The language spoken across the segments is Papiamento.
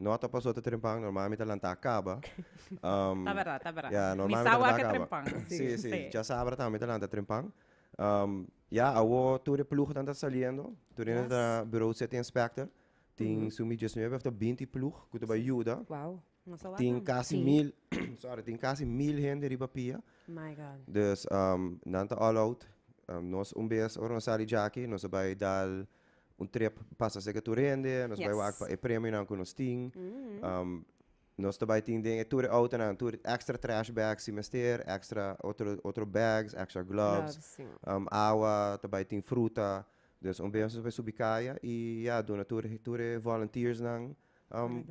No a topa so ta trempan, normal mi ta lanta caba. Um, Ta verdad, ta verdad. Ya, normal mi ta lanta caba. Trempan. Sí, sí, sí. Ya sabra también mi ta lanta trempan. Um, ya, awo tur de ploeg tan ta saliendo. Tur yes. ta bureau city inspector. Tin mm. su mi 19 of ta 20 ploeg ku ta sí. yuda. Wow. Tin casi sí. mil, sorry, tin casi mil gente riba pia. My God. Dus, um, dan ta all out. Um, nos un bes, ora nos sali jaki, nos bai dal... un trip pasa seke tur hende, nos bai wak pa e premionan ku nos tin. Nos ta bai tin den e tur e outonan tur extra trash bags si mester, extra otro otro bags, extra gloves, awa, ta bai tin fruta. Dus un bes nos bai subi kaya i ya duna tur tur e volunteersnan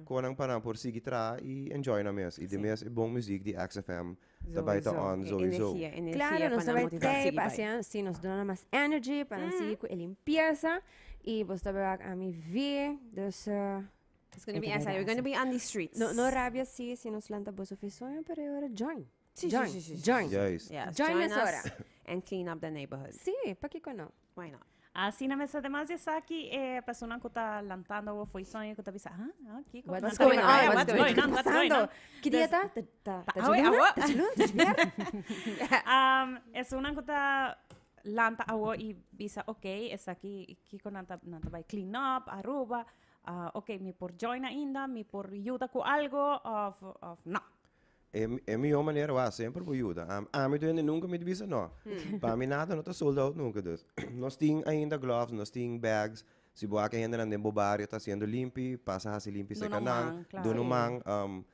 Koe nan pa nan por sigui traha i enjoy nan mes. I demes e bon muziek di XFM ta bai ta on zoizo. Claro, nos ta bai trei pa hasi ansi, nos duna nan mas energy pa nan sigui ku e limpiesa i bo sta bai wak ami vi, dus It's gonna be exciting, we're gonna be on di streets. No no rabia si si nos lanta boso fi sueño pero e ora join, join, join, join nos ora. And clean up the neighborhood. Si, pakiko no. Why not? Asina mester te mas esaki e persona ku ta lantando awo foi soño ku ta bisa, ah, ah, kiko. What's Nanta going riba, on? eh, What's what's going going on? What's going Pasando. on? Ki dia ta? Ta ta Ta ta awe, Juluna? awo. Ta Juluna? Ta Julier? Um, esuna ku ta lanta awo i bisa, okay, esaki kiko nan ta nan ta bai clean up, Aruba. Ah, okay, mi por join ainda, mi por yuda ku algo of of no. E, e mihor manera wa sempre por yuda. Am, ami duende nunca mi bisa no. Pa mi nada no ta sold out nunca dus. Nos tin ainda gloves, nos tin bags. Si bo ake hendenan den bo barrio ta haciendo limpi, pasa hasi limpi Duna un secanan, man, claro. duna un man. Um,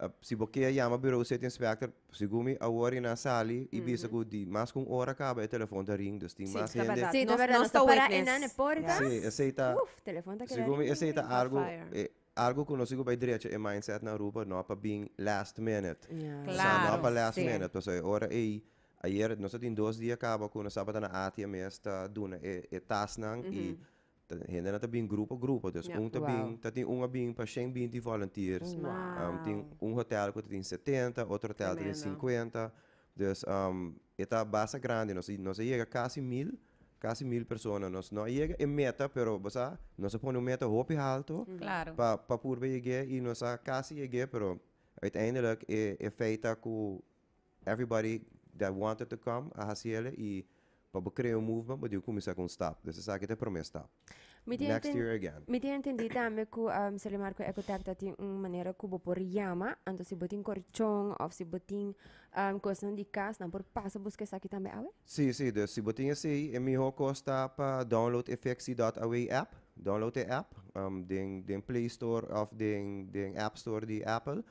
uh, si bo ke yama bureau city inspector, segun mi awor y nan sali y bisa cu di mas cu un hora caba e telefoon ta ring, dus tin Sí, mas ta hende. verdad. Sí, ta Nos- verdad. nos Nos ta ta para witness. enan e porta. Sí, esei ta, Uf, telefon ta keda segun mi ring, esei ring, ta ring. algo, Hot fire. eh, Algo cu nos tin cu bay drecha e mindset na Aruba no pa bin last minute. Sa no pa last minute pasobra e ora ey ayer nos a tin dos dia caba cu nos tabata na Atia mes ta duna e e tasnan y ta hendenan ta bin grupo grupo dus un ta bin ta tin un a bin pa shen binti volunteers tin un hotel cu ta tin setenta otro hotel ta tin cincuenta dus E ta basta grandi, nos a nos a yega casi mil, casi mil persona, nos no a yega e meta pero bo sa nos a pone un meta hopi halto Claro. pa pa purba yeg'e y nos a casi yeg'e pero uiteindelijk e e feit ta cu everybody that wanted to come a haciele y pa bo crea un movement bo dibi cuminsa cu un stap, des esaki ta e prome stap. Mi tin entendi tambe ku Solimar ku Ecotech ta tin un manera ku bo por yama, anto si bo tin korchon òf si bo tin kosnan di kas nan por pasa buska esaki tambe awe? Sí, sí, dus si bo tin esei e mihó kos ta pa download e Fixie dot Away app, download e app den Play Store òf den App Store di Apple,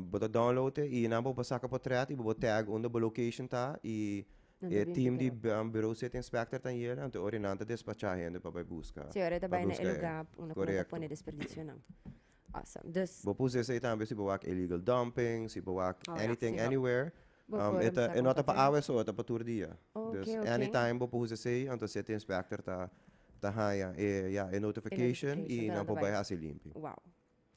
bo ta download e i nan bo por saka potrèt i bo por tag unda bo location ta i E team di Bureau City Inspector ta yera, anto ora nan ta despacha hende pa bai buska. Si ora ta bai na e luga ku nan ta pone desperdicionan. Awesome. Dus. Bo pusi esei tambe si bo wak illegal dumping, si bo wak anything anywhere. E no ta pa awe so, e ta pa tur dia. Dus anytime bo pusi esei, anto City Inspector ta haña e notification i nan por bai hasi limpi.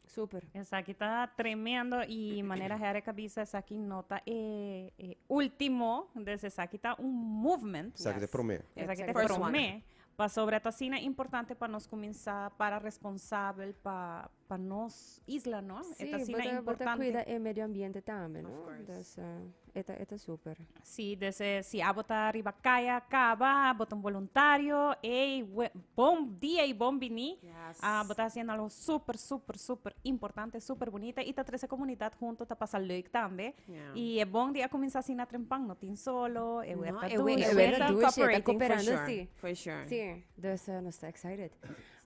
Super. Esaki ta tremendo y manera Herek a bisa esaki no ta e, e ultimo, des esaki ta un movement. Esaki yes. ta prome. Esaki ta prome. Pasobra ta sina importante pa nos kuminsá para responsabel pa, pa nos isla, no? Sí, e ta sina importante. Bo ta kuida e medio ambiente tambe, no? Of course. Dus, uh, e ta, e ta super. Sí, desde si abo ta riba kaya kaba, abo ta un voluntario, ey, we- bon dia y bon bini. Yes. Ah, bo ta haciendo algo súper, súper, súper importante, súper bonita. Y ta trece comunidad junto, ta pasa leuk tambe. Yeah. Y e bon di a comenzar así na trempan, no tin solo, e werk No, a e doen, doen, e e werk a werk a doen, doen, sí, tá cooperating for cooperando, sure, sí. for sure. Sí, dus eh, nos está excited.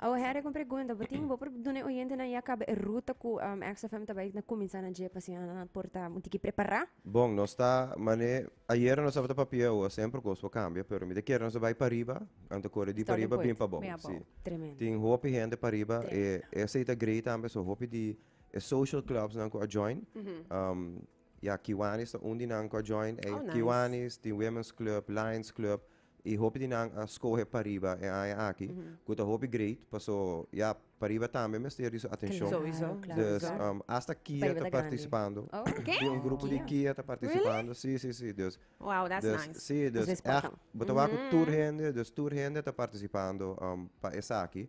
Awe Harry con pregunta bo tin bo por duna e oyentenan ya caba e ruta cu um, XFM ta bai na cuminsa na dje pa asina nan por ta un tiki prepara. Bon, nos ta mané, ayera nos tabata papia, awoa semper cos por cambia, pero mi ta kere nos ta bai pariba, nan ta core di Starting pariba bin point. pa bou, Bin a si. bou. Tremendo. Tin hopi hende pariba, e, Tremendo. esei ta grei tambe, so hopi di e social clubs nan cu a join, um, ya Kiwanis ta un di nan cu a join, ei, Oh, nice. Kiwanis, tin Women's Club, Lions Club, Y hopi di nan a scoge pariba e aña aki, cu ta hopi great, paso ya pariba tambe mester di su atencion. Dus hasta Kia ta participando. Di un grupo di Kia ta participando. Si, si, si. Dus, si, dus echt bo ta wak cu tur hende, dus tur hende ta participando pa esaki.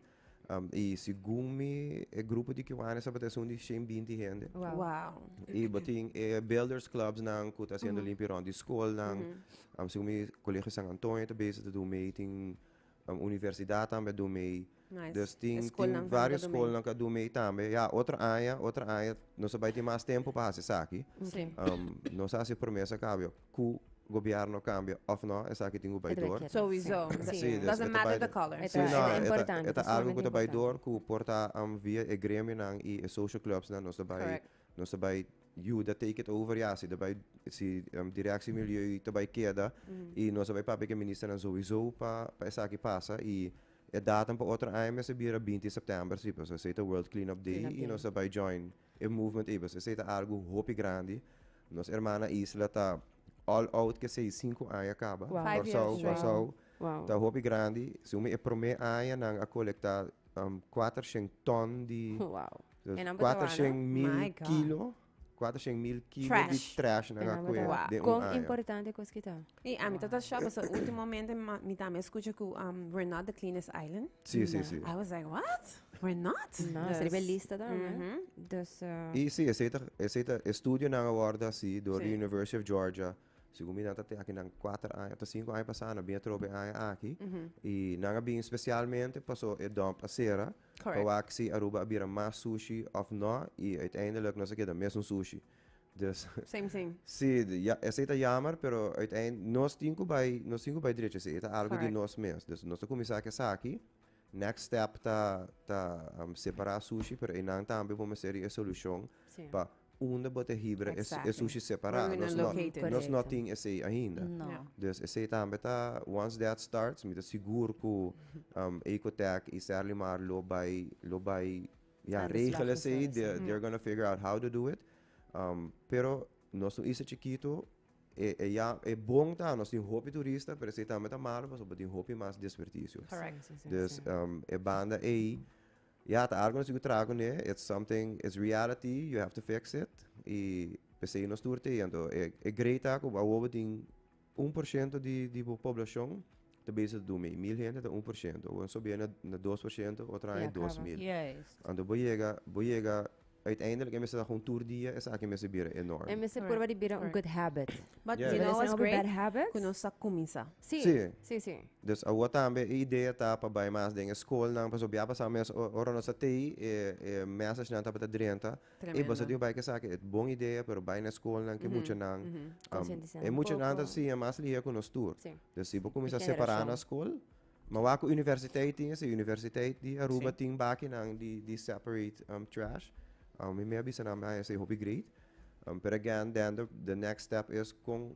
Y segun mi e grupo di cubanos tabata esun di shen binti hende. Wow. Y botin e builders clubs nan cu ta haciendo limpio rond di schoolnan. Um, segun mi colegio San Antonio ta bezig ta doen mee tin um, universidad tambe a doen mee. Nice. Dus E tin, schoolnan tin tambe varios ta doen mee. schoolnan cu a doen mee tambe. Ya, otro aña, otro aña nos a bay tin mas tempo pa haci esaki. Sí. Um, nos a haci promesa cabio. Cu gobierno cambia of no esaki tin cu bay door. Sowiso. Doesn't matter the color. Si no e ta algo cu ta bay door cu por ta via e gremionan y e social clubs nan nos ta bay nos ta bay yuda take it over ya si ta bay si direcci milieu ta bay keda y nos ta bay papia cu e ministernan sowiso pa esaki pasa y e datum pa otro aña mes ta bira binti september si pasobra esey ta world clean up day y nos ta bay join. E movement ei pues esei ta algo hopi grandi nos herman na isla ta all out ke esei sinku aña kaba Kòrsou Kòrsou ta hopi grandi si umi e prome aña nan a kolekta kuater shen tòn di kuater shen mil kilo kuater shen mil kilo di trash nan a kue den un aña. Kon importante kos ki ta? Ey, a mi ta ta shock, paso ultimomente ma- mi tambe escucha cu um, we're not the cleanest island. Sí, sí, sí. I was like, what? We're not? No, Dus- seria lista dan, hè? Mhm. Dus, eh, Y sí, ese ta, ese ta estudio nan aborda así door Sí. the University of Georgia. Según mi nan ta te aki nan cuatro años, ta cinco años pasado, nan bien trobe años aki. Y nan a bien especialmente paso e dump a cera. Correct. Pa wak si Aruba a bira mas sushi of no. Y uiteindelijk nos a keda mes un sushi. Dus, Same, same. si, di- ya, esei ta jammer, pero uiteind nos tin ku bai, nos tin ku bai drechi esei. E ta algu di Correct. nos mes. Dus nos ta kuminsá ku esaki. Next step ta, ta am, separá sushi, pero einan tambe bo mester di e solushon Sí. pa unda bo ta hibra e- e Exactly. sushi separá. Where we Nos gonna no, locate it. nos no Correcto. tin esei ainda. No. Ja. Dus esei tambe ta, once that starts, mi ta sigur ku, am, Ecotech i Sterling Mar lo bai, lo bai Ya, regel esei, they're gonna figure out how to do it. Um, pero nos un isla chiquito, e, e, ya, e bon ta, nos tin hopi turista, pero esei tambe ta malo, paso tin hopi mas desperdicio. Correct. Dus, um, e banda ei, ya, ta algo nos tiku traha kune, it's something, it's reality, you have to fix it, i pesei nos tur te, anto e, e grei ta ku awobo tin Un por shento di di bo poblashon ta bese ta durmi. Mil hende ta un por shento. Bo so bia na dos por shento otro aña dos mil. Anto bo yega bo yega uiteindelijk e mester ta con tur dia esaki mester bira enorm. E mester purba di bira un good habit. But you know what's great cu nos a cuminsa. Si si si. Dus awoa tambe e idea ta pa bay mas den e scolnan pasobra a pasado mes ora nos ta tey e e message nan tabata drenta Ey boso tin bai kesaki et bon idea pero bai na escolnan ke muchanan e muchanan ta siña mas liga cu nos tur den si bo cuminsa separa na escol ma wak cu universiteit tin esi universiteit di Aruba tin bakinan di separate trash mi me a bisa nan bai esa e hopi great pero again den the next step is con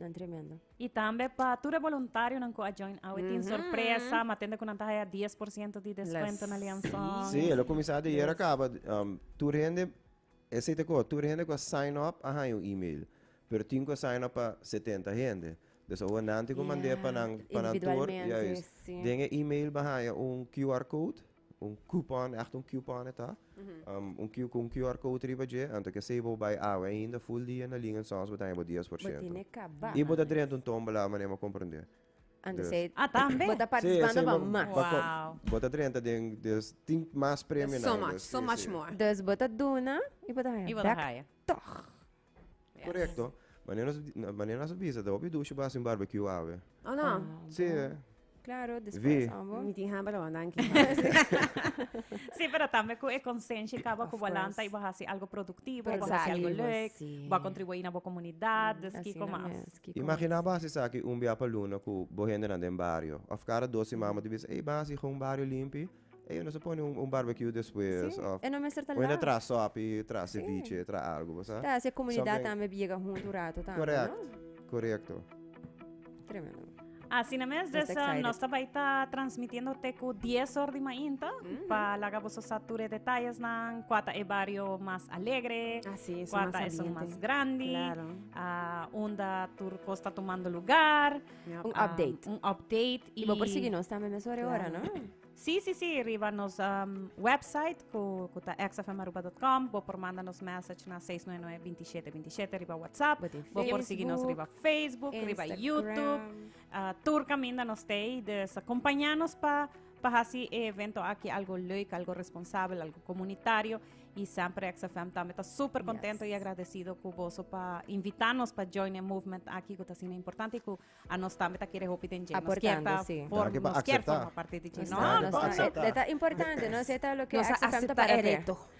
Nan tremendo. Y tambe pa tur e voluntarionan cu a join awe tin mm-hmm. sorpresa, ma tende cu nan ta haya 10% di descuento na lianzón. Sí, el a comenzar de ayer acaba. Um, tur hende, ese te co, tur hende cu sign up a haya un email. Pero tin cu sign up pa 70 hende. Dus o nan te cu mandé pa nan, pa nan tur. Juist. Den e email ba haya un QR code. Un coupon, ègt un coupon e ta. Un cu, cu un QR code riba dje, anto ke esei bo bai awe ainda, full dia na link en Sons bo ta haña bo dies por ciento. Bo tene kaba. I bo ta drenta un tombola, manera mi a komprendé. Anto esei. Dus. Ah, tambe? Bo ta partisipando pa mas. Sí, esei bo. Wow. Bo ta drenta den, dus tin mas premio na ainda. There's so much, so much more. Dus bo ta duna i bo ta haña bèk tòg. Korekto. Manera nos manera nos bisa ta hopi dushi basi un barbecue awe. Oh no. Si. Claro, Vi. después ambo. Mi tin hamba lawan danki. Sí, pero tambe ku e konsenshi kaba ku bo a Of lanta course. i bo a hasi algo produktibo, bo a hasi algo Produktivo, lek, sí. bo a kontribuí na bo komunidat, dus kiko Asina mas. mes, kiko Imagina mas. basi esaki un bia pa luna ku bo hendenan den bario. Òf kada dos siman bo ta bisa, ey basi hou un bario limpi. Ey nos a pone un barbecue despues sí of e no mester ta lau bueno tra sopi tra ceviche sí. tra algo bosa ta hace comunidad so, tambe biega junto un rato tambe correct no? correcto tremendo Asina mes, dus uh, nos ta bai ta transmitiendo te ku 10 or di mainta mm -hmm. pa laga boso sa ture detalles nan kuata e barrio mas alegre, ah, sí, kuata e son mas grandi, claro. uh, unda tur kosta tomando lugar. Yep, un um, update. Un update. Y, y bo por seguir nos también mes hora, claro. ¿no? Sí, sí, sí, arriba nos um, website, cu, cu ta xfmaruba.com, bo por manda nos message na 699-2727, arriba WhatsApp, bo por seguir nos arriba Facebook, Instagram. arriba YouTube, uh, tur caminda nos tei, dus acompañanos pa Pa hasi e evento aki algo leuk, algo responsabel, algo komunitario i semper XFM tambe ta super kontento i agradesido ku boso pa invitá nos pa join e movement aki ku ta asina importante i ku a nos tambe ta kere hopi den dje. Nos kier ta for nos kier forma parti di dje. No, no, no. E ta importante, nos e ta loke XFM ta para p'e.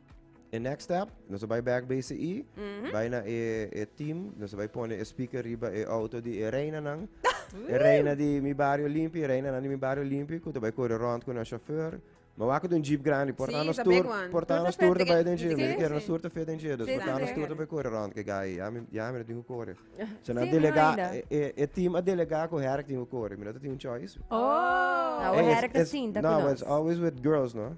E next step, nos bai back BCI, bai na e, e team, nos bai pone e speaker riba e auto di e reina nan. E reina di mi barrio limpi, e reina nan di mi barrio limpi, ku ta bai kore rond ku na chauffeur. Ma wak dun jeep grandi, porta Sí, nos ta big tour, one. porta Tour nos ta tour ta fit, bai den jeep, sí, mi kere sí. nos tour ta fit den jeep, dus Sí, porta sí, nos sí. tour ta bai kore rond ke gai, ya mi, ya mi no tin ku kore. So nan Sí, delega, mira, e, e, e team a delega ku Herk tin ku kore, mi no ta tin un choice. Oh! Nou, Hey, it's- Herk ta it's- sinta ku No, nos. it's always with girls, no?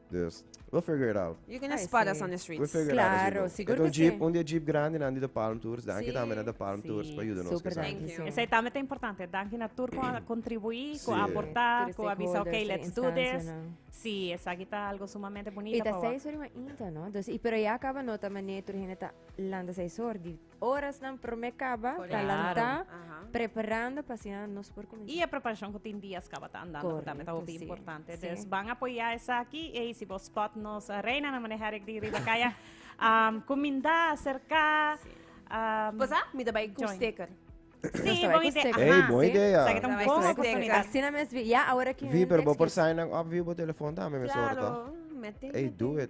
Dus, we figure it out. You gonna spot us on the streets. We figure it out as we go. Claro, sigur e ta un jeep, un di e jeep grandenan di The Palm Tours. Danki tambe na The Palm Tours pa yuda nos kesa. Thank you. Esei tambe ta importante. Danki na tur ku a kontribuí, ku a aportá, ku a bisa ok, let's do this. Sí, esaki ta algo sumamente bunita pa wak. I ta seis ora i wan inta, no? Dus, i pero ya kaba no ta manera tur hende ta lanta seis ora di. Orasnan promé kaba ta Correcto. lantá, Aha. preparando pa asina nos por kumensá. Y e preparacion cu tin días caba ta andando, que también ta Correcto, hopi sí, importante. sí. Dus van apoya esaki. Ey, si bo spot nos eh, reina na manejar ik di riba kaya. Um, cuminda, cerca. Um, Pues ah, mi da bai ku Join. sticker. Sí, Está bon bien, idea. Steker. Ey, Ajá, bon sí. idea. Sabe que Está un bien, poco Steker. oportunidad. Así no me esvi- Ya, ahora que. Vi, pero bo por sign up, vi bo telefoon también, me Claro, sorta. mete. Ey, do it.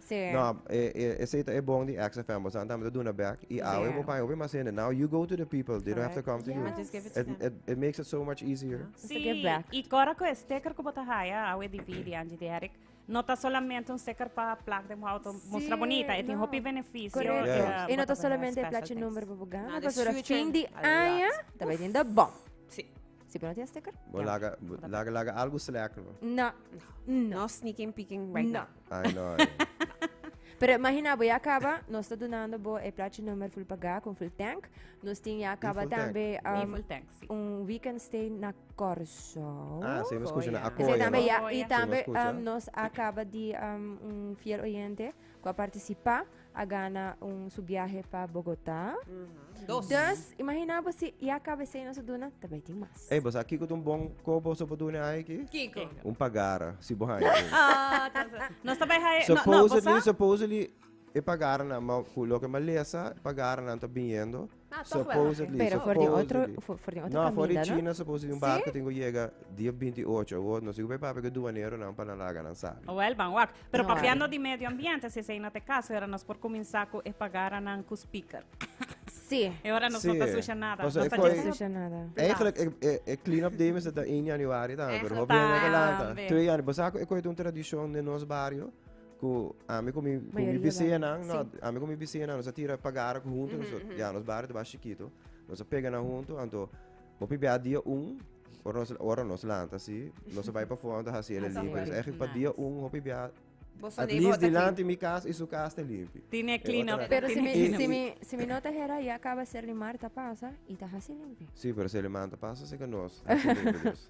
No, e, e, ese ta e bon di XFM. Bosan tambe ta duna back. I awe Zeker. bo paña hopi mas hende. Now you go to the people. They don't have to come to you. But just give it to It, them. it, it makes it so much easier. It's a Sí, give back. y cora cu e sticker cu bota haya, awe di vi di Angie di Eric, no ta solamente un sticker pa plak de auto Sí, mustra bonita, e tin no. hopi beneficio. Correcto. Yeah. eh, Y no bota ta bene solamente special plaatje things. number pa bo gana, Now, the pas ora future, fin di a lot. aña, ta bay den de bom. Sí. Si bo no tin e sticker, Bo yam'e. laga, bo laga, laga algo slecht, no? No, no. No sneaking peeking right No. now. Ay, no, ay. Pero imagina, bo ya caba, nos ta donando bo e plaatje nummer full pagá con full tank. Nos tin ya caba full tank? tambe Di um, full tank, sí. un weekend stay na Corso. Ah, sí, me escucha, Coya. na Ese Acoya, tambe no? ya, Coya. y Sí, tambe me escucha. um, nos acaba di um, un fiel oyente Ku a partisipá a gana un su biahe pa Bogotá. Dos. Dus, imagina bo si ya kaba esei nos a duna, ta bai tin mas. Ey, bo sa kiko ta un bon kobo so por duna e haña aki? Kiko? Un pagara, si bo haña. Ah, ta sa. Nos ta bai haña. No, no, bo sa. Supposedly, supposedly e pagaranan, ma ku loke malesa e pagaranan ta biniendo. Supposedly, supposedly. No, afó di China supposedly un barco tin ku yega dia binti ocho agosto. No si ku pa e papia ku e duaneronan pa nan laga nan sabi. Wèl, ban wak. Pero papiando di medio ambiente, si esei no ta e kaso, e ora nos por kuminsá ku e pagaranan ku spikèr. Sí. E ora nos no ta susha nada. Paso e koi, eigenlijk e clean up day mester ta ein januari tambe, pero hopi hende ta lanta. Twe januari. Bo sa ku e koi ta un tradishon den nos bario? Ku ami ku mi bisiñanan, no, ami ku mi bisiñanan nos a tira pa gara huntu nosot. Ya, nos bario tabata shikitu. Nos a pega nan huntu, anto bo pibia dia un, ora nos, ora nos lanta si, nos a bai pafó anto hasi el a limpi. Entonces ejemplo, pa dia un hopi bia At least dilanti mi kas i su kas ta limpi. Tine clean up. Pero si mi, si mi, si mi no ta hera ya kaba ser di Marta pasa i ta hasi limpi. Si, pero ser di Marta pasa seka nos hasi limpi dus.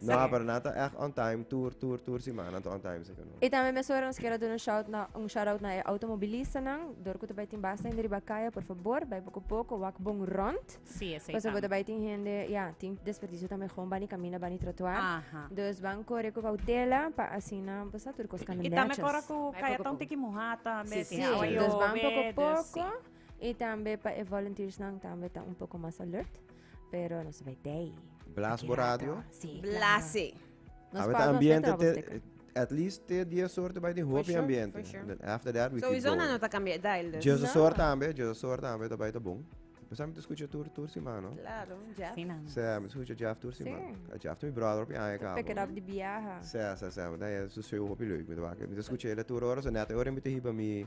No ha para nada, echt on time, tour, tour, tour semana, on time zeker no. Y tambe mesora nos kier a duna shout na un shout out na e automobilistanan dor ku ta bai tin basta hende riba kaya por favor bai poko poko wak bon rond Sí, esei kosa ku ta tam. bai tin hende ya tin desperdicio tambe gewoon bani camina bani trotuar Aha. dus ban kore ku kautela pa asina bo sa tur kos kanda Y tambe netjes kora ku Bai kaya poko ta un poko. tiki muhá tambe, Sí, tin sí, awa dus ban yobe, poko dus poko sí. y tambe pa e volunteersnan tambe ta un poko mas alert. Pero nos bai day. Blas bo radio. Sí, Blase. Nos pa ambiente te, at least te die soort bij die hoop ambiente. For sure. After that we Sowieso keep going. na ta cambia dial dus. Just no. soort ambe, just soort ambe ta bij de boom. Pues aan escucha tour tour semana. Claro, ja. Sí, na. Ze, aan escucha Jeff tour semana. Ja, Jeff to mi brother op je aan gaan. Pick it up de biaha. Ze, ze, ze. Dan je zo zo hoop je leuk met wakker. Met escucha hele tour horen, zo net horen met de hiba mi.